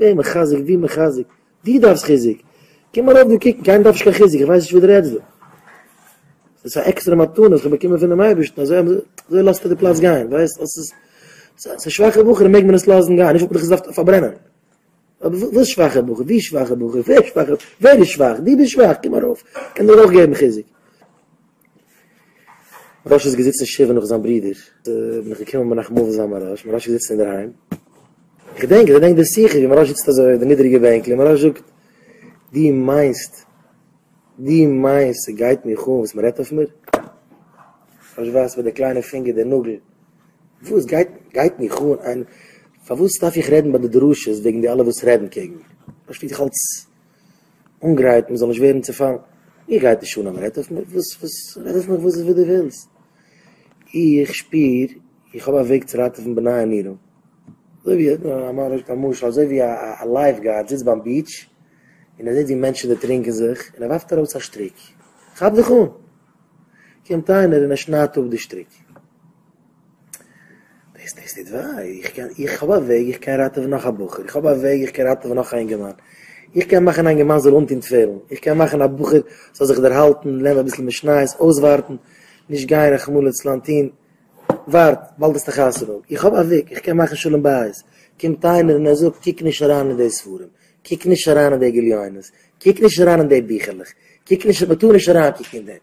דער מחזק, די מחזק, די דארפסט חיזוק, קום ארויף דא קוקן, קיינער דארף נישט קיין חיזוק, איך ווייס נישט וואס דו רעדסט דא, ס'איז א עקסטערע מתנה וואס כ'האב באקומען פונעם אייבערשטן, אזוי לאזט ער די פלאץ גיין, ווייסט אז ס'איז ס'איז א שוואכע בחור מעג מען עס לאזן גיין, נישט וואלט איך עס געדארפט פארברענען, אבער וואס שוואכע בחור, ווי שוואכע בחור, ווער שוואכע, ווער איז שוואך, דו ביסט שוואך, קום ארויף, קען דיר אויך געבן חיזוק. מרש איז געזיצן שבעה נאך זיין ברודער, בין איך געקומען מנחם אבן זיין מרש, מרש איז געזיצן אינדערהיים, איך געדענק, איך געדענק די שיחה ווי מרש זיצט אזוי אויף די נידעריגע בענקל און מרש זאגט, דו מיינסט, דו מיינסט ס'גייט מיך אן וואס מ'רעדט אויף מיר? מרש ווייזט מיט די קליינע פינגער די נאגל, וואס גייט, גייט מיך אן, פארוואס דארף איך רעדן ביי די דרשות וועגן די אלע וואס רעדן קעגן מיר? מרש פילט זיך אלץ אנגרייט מען זאל נישט ווערן צופאלן, מיר גייט נישט אן אז מען רעדט אויף מיר, וואס וואס רעד אויף מיך וואס וואס דו ווילסט, איך שפיר איך האב א וועג צו ראטעווען בני עמינו, אזוי ווי א משל אזוי ווי א לייף גארד זיצט ביים ביעטש און ער זעט ווי מענטשן דערטרינקען זיך און ער ווארפט ארויס א שטריק, כאפ דיך אן! קומט איינער און ער שניידט אפ די שטריק. דאס דאס טוט וויי, איך קען, איך האב א וועג איך קען ראטעווען נאך א בחור, איך האב א וועג איך קען ראטעווען נאך א אינגערמאן, איך קען מאכן א אינגערמאן זאל אנטון תפילין, איך קען מאכן א בחור זאל זיך דערהאלטן, לערנען אביסל משניות, אויסווארטן, נישט גיין רחמנא לצלן טון, ווארט, באלד האסטו חתונה, איך האב א וועג איך קען מאכן שלום בית, קומט איינער און ער זאגט קוק נישט אריין אין די ספרים, קוק נישט אריין אין די גליונות, קוק נישט אריין אין די ביכערלעך, קוק נישט, מען טאר נישט אריינקוקן אין דעם.